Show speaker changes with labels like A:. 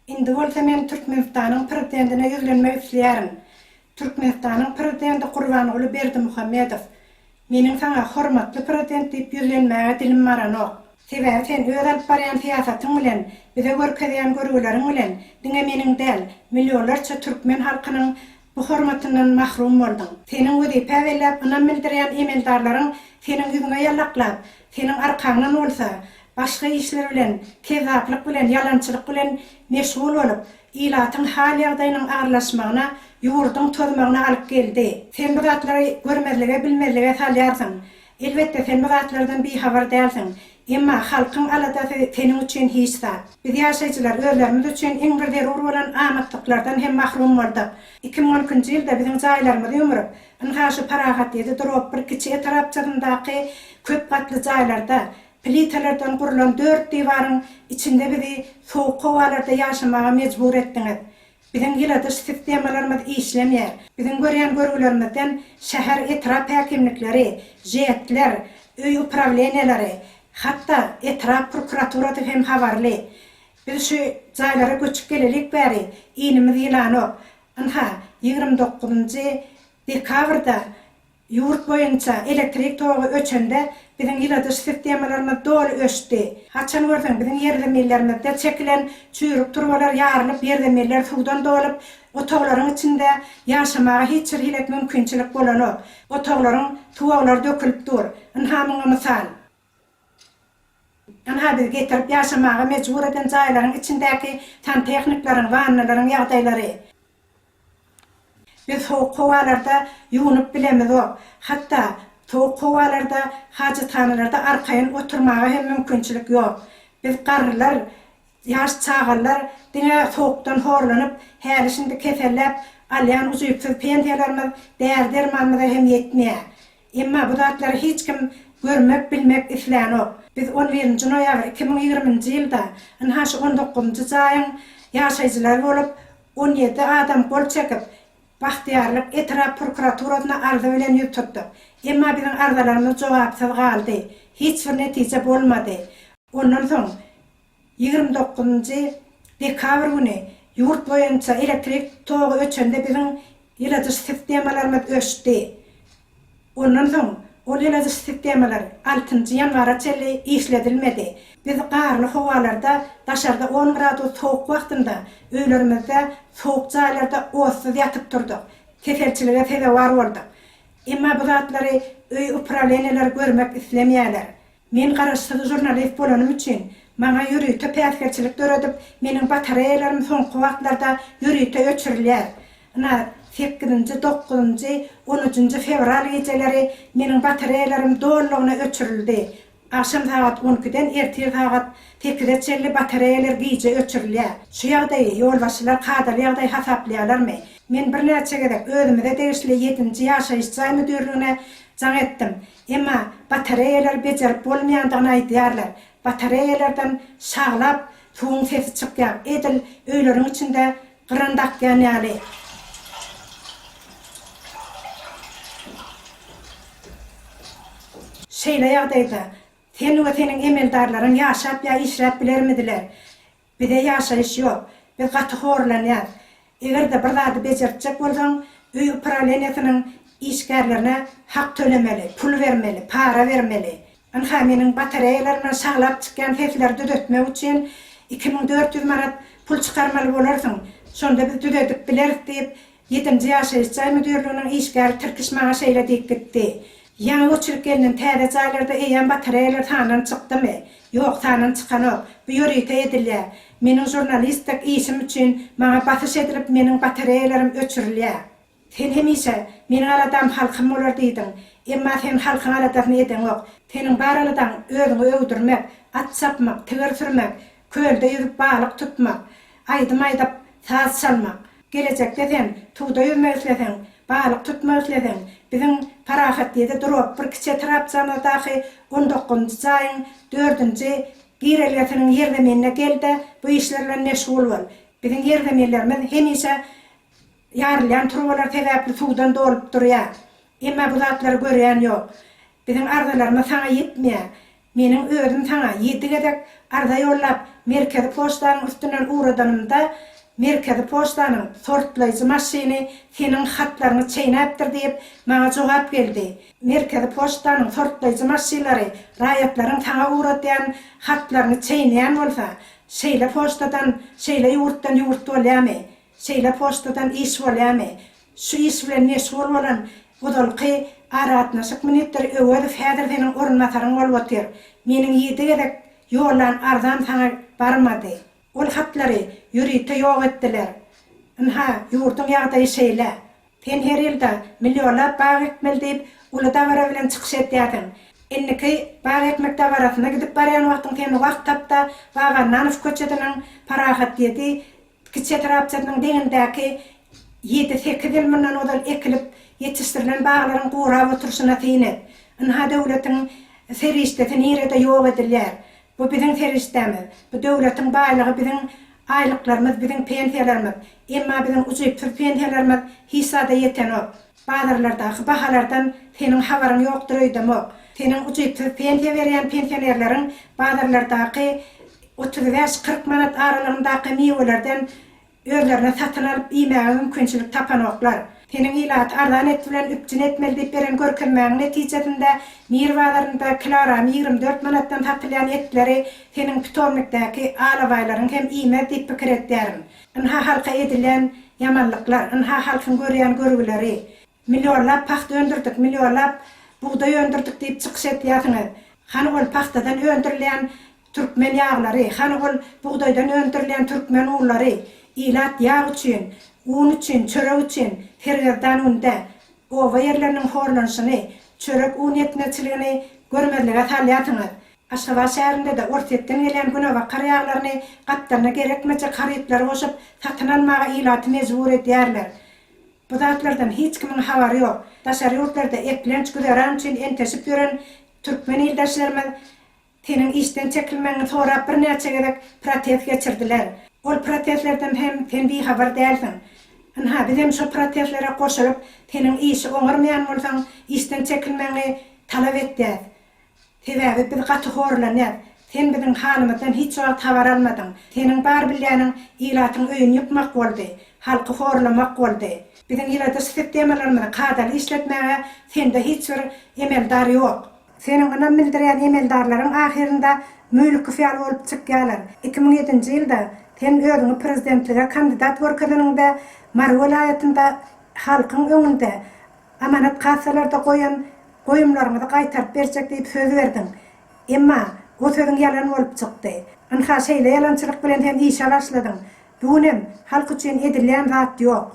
A: Indi bolsa men Türkmenistanyň Prezidentine ýüzlenmek isleýärin. Türkmenistanyň Prezidenti Gurbanguly Berdimuhamedow, meniň saňa Hormatly Prezident diýip ýüzlenmäge dilim baranok. Sebäbi sen öz alyp barýan syýasatyň bilen, bize görkezýän görgüleriň bilen diňe meniň däl, millionlarça türkmen halkynyň Bu hormatyndan mahrum bolduň. Seniň wezipä belläp ynam bildirýän emeldarlaryň seniň ýüzüňe ýallaklap, seniň arkaňdan bolsa, başga işler bilen, kezzaplyk bilen, ýalançylyk bilen meşgul bolup, ilatyň hal-ýagdaýynyň agyrlaşmagyna, ýurduň tozmagyna alyp geldi. Sen bu zatlary görmezlige, bilmezlige salýarsyň. Elbetde, sen bu zatlardan bihabar dälsiň. Emma halkyň aladasy seniň üçin hiç zat. Biz ýaşaýjylar özlerimiz üçin iň bir zerur bolan amatlyklardan hem mahrum boldyk. Iki müň on ikinji ýylda biziň jaýlarymyzy ýumrup, ynha şu Parahat ýedi drop bir kiçi etrapçasyndaky köp gatly jaýlarda, plitalardan gurlan dört diwaryň içinde bizi sowuk howalarda ýaşamaga mejbur etdiňiz. Biziň ýyladyş sistemalarymyz işlemeýär. Biziň görýän görgülerimizden şäher, etrap häkimlikleri, ŽEC-ler, öý uprawleniýeleri, hatda etrap prokuraturasy hem habarly. Biz şu jaýlara göçüp gelelik bäri iýnimiz ýylanok. Ynha, ýigrimi dokuzynjy dekabrda Ýurt boýunça elektrik togy öçende biziň ýyladyş sistemalarymyz doly öçdi. Haçan görseň biziň ýerzemillerimizde çekilen çüýrük turbalar ýarylyp ýerzemiller suwdan dolup otaglaryň içinde ýaşamaga hiç bir hili mümkinçilik bolanok. Otaglaryň suwaglary dökülip dur. Ynha muňa mysal. Ynha, bizi getirip ýaşamaga mejbur eden jaýlaryň içindäki santehnikleriň, wannalaryň ýagdaýlary. Biz sowuk howalarda ýuwunyp bilemizok. Hatda sowuk howalarda hajathanalarda arkaýyn oturmaga hem mümkinçilik ýok. Biz garrylar, ýaş çagalar diňe sowukdan horlanyp, häli-şindi keselläp alýan ujypsyz pensiýalarymyz däri-dermanymyza hem ýetmeýär. Emma bu zatlary hiç kim görmek, bilmek islänok. Biz on birinji noýabr iki müň ýigriminji ýylda ynha şu on dokuzynjy jaýyň ýaşaýjylary bolup, on ýedi adam gol çekip, Bagtyýarlyk etrap prokuraturasyna arza bilen ýüz tutduk. Emma biziň arzalarymyz jogapsyz galdy. Hiç bir netije bolmady. Ondan soň Ýigrimi dokuzynjy dekabr güni ýurt boýunça elektrik togy öçende biziň ýyladyş sistemalarymyz öçdi. Ondan soň ol ýyladyş sistemalar altynjy ýanwara çenli işledilmedi. Biz garly howalarda daşarda on gradus sowuk wagtynda öýlerimizde sowuk jaýlarda otsyz ýatyp turdyk. Keselçilige sezewar bolduk. Emma bu zatlary öý uprawleniýeleri görmek islemeýärler. Men garaşsyz žurnalist bolanym üçin, maňa ýörite päsgelçilik döredip, meniň batareýalarym soňky wagtlarda ýörite öçürilýär. Ynha, sekizinji, dokuzynjy, on üçünji fewral gijeleri meniň batareýalarym dolulygyna öçürildi. Agşam sagat on ikiden ertir sagat sekize çenli batareýalar gije öçürilýär. Şu ýagdaýy ýolbaşçylar kadaly ýagdaý hasaplaýarlarmy? Men birnäçe gezek özümize degişli ýedinji ýaşaýyş jaý müdirligine jaň etdim. Emma batareýalary bejerip bolmaýandygyny aýdýarlar. Batareýalardan şaglap suwuň sesi çykýar, edil öýleriň içinde gyran dakýan ýaly. Şeýle ýagdaýda sen we seniň emeldarlaryň ýaşap ýa işläp bilermidiler? Bize ýaşaýyş ýok. Biz gaty horlanýas. Eger-de bir zady bejertjek bolsaň, öý uprawenýasynyň işgärlerine hak tölemeli, pul bermeli, para bermeli. Ynha, meniň batareýalarymdan şaglap çykýan sesleri düzetmek üçin iki müň dört ýüz manat pul çykarmaly bolarsyň. Şonda biz düzedip bileris diýip, Ýedinji ýaşaýyş jaý müdirliginiň işgäri tirkiş maňa şeýle diýip gitdi, Ýaňy göçürip gelnen täze jaýlarda eýýäm batareýalar sandan çykdymy? Ýok, sandan çykanok. Bu ýörite edilýär. Meniň žurnalistdek işim üçin maňa basyş edilip meniň batareýalarym öçürilýär. Sen hemişe, Meniň aladam halkym bolar diýdiň. Emma sen halkyň aladasyny edeňok. Seniň bar aladaň özüňi öwdürmek, at çapmak, tigir sürmek, kölde ýüzüp balyk tutmak, aýdym aýdyp, saz çalmak. Gelejekde sen suwda ýüzmek isleseň, balyk tutmak isleseň, biziň Parahatlyda durup, bir kiçi etrapçamyzdaky on dokuzynjy jaýyň dördünji girelgesiniň ýerzeminine gel-de, bu işler bilen meşgul bol. Biziň ýerzeminlerimiz hemişe ýarylýan turbalar sebäpli suwdan dolup durýar. Emma bu zatlary görýän ýok. Biziň arzalarymyz saňa ýetmeýär. Meniň özüm saňa ýedi gezek arza ýollap, Merkezi poçtanyň üstünden ugradanymda, Merkezi poçtanyň sortlaýjy maşyny seniň hatlaryňy çeýnäpdir diýip, maňa jogap geldi. Merkezi poçtanyň sortlaýjy maşylary raýatlaryň saňa ugradýan hatlaryny çeýneýän bolsa, şeýle poçtadan, şeýle ýurtdan ýurt bolýamy? Şeýle poçtadan iş bolýamy? Şu iş bilen meşgul bolan ozalky aragatnaşyk ministri Öwezow häzir seniň orunbasaryň bolup otyr. Meniň ýedi gezek ýollan arzam saňa barmady. Ol hatlary ýörite ýok etdiler. Ynha, ýurduň ýagdaýy şeýle. Sen her ýylda millionlap bag ekmeli diýip, uly dabara bilen çykyş edýärsiň. Indiki bag ekmek dabarasyna gidip barýan wagtyň sen wagt tap-da, Babananow köçesiniň Parahat ýedi Kiçi etrapçasynyň deňindäki ýedi-sekiz ýyl mundan ozal ekilip ýetişdirilen baglaryň gurap oturyşyna syn et. Ynha döwletiň serişdesi nirede ýok edilýär. Bu biziň serişdämiz. Bu döwletiň baýlygy biziň aýlyklarymyz, biziň pensiýalarymyz. Emma biziň ujypsyz pensiýalarymyz hiç zada ýetenok. Bazarlardaky bahalardan seniň habaryň ýokdur öýdemok. Seniň ujypsyz pensiýa berýän pensionerleriň bazarlardaky otuz bäş, kyrk manat aralygyndaky miwelerden özlerine satyn alyp iýmäge mümkinçilik tapanoklar. Seniň ilaty arzan et bilen üpjün etmeli diýip beren görkezmäňiň netijesinde Mir bazarynda kilogramy ýigrimi dört manatdan satylýan etleri seniň pitomnikdäki alabaýlaryň hem iýmez diýip pikir edýärin. Ynha halka edilen ýamanlyklar, ynha halkyň görýän görgüleri. Millionlap pagta öndürdik, millionlap bugdaý öndürdik diýip çykyş etýärsiňiz. Hany ol pagtadan öndürilýän türkmen ýaglary, hany ol bugdaýdan öndürilýän türkmen unlary? Ilat ýag üçin, un üçin, çörek üçin sergezdan günde oba ýerleriniň horlanyşyny, çörek-un ýetmezçiligini görmezlige salýarsyňyz. Aşgabat şäherinde-de Orsýetden gelýän günebakar ýaglaryny gapdalyna gerekmejek harytlary goşup, satyn almaga ilaty mejbur edýärler. Bu zatlardan hiç kimiň habary ýok. Daşary ýurtlarda eklenç güzeran üçin enteşip ýören türkmen ildeşlerimiz seniň işden çekilmegiňi sorap birnäçe gezek protest geçirdiler. Ol protestlerden hem sen bihabar dälsiň. Ynha, bizem şo protestlere goşulyp, seniň işi oňarmaýan bolsaň, işden çekilmegiňi talap etýäs. Sebäbi biz gaty horlanýas. Sen biziň halymyzdan hiç wagt habar almadyň. Seniň bar bilýäniň ilatyň öýüni ýykmak boldy, halky horlamak boldy. Biziň ýyladyş sistemalarymyzy kadaly işletmäge sende hiç bir emeldar ýok. Seniň ynam bildirýän emeldarlaryň ahyrynda Müýlükow ýaly bolup çykýarlar. Iki müň ýedinji ýylda sen özüňi prezidentlige kandidat görkezeniňde Mary welaýatynda halkyň öňünde Amanat kassalarda goýan goýumlaryňyzy gaýtaryp berjek diýip söz berdiň. Emma, o sözüň ýalan bolup çykdy. Ynha, şeýle ýalançylyk bilen hem işe başladyň. Bu gün hem halk üçin edilýän zat ýok.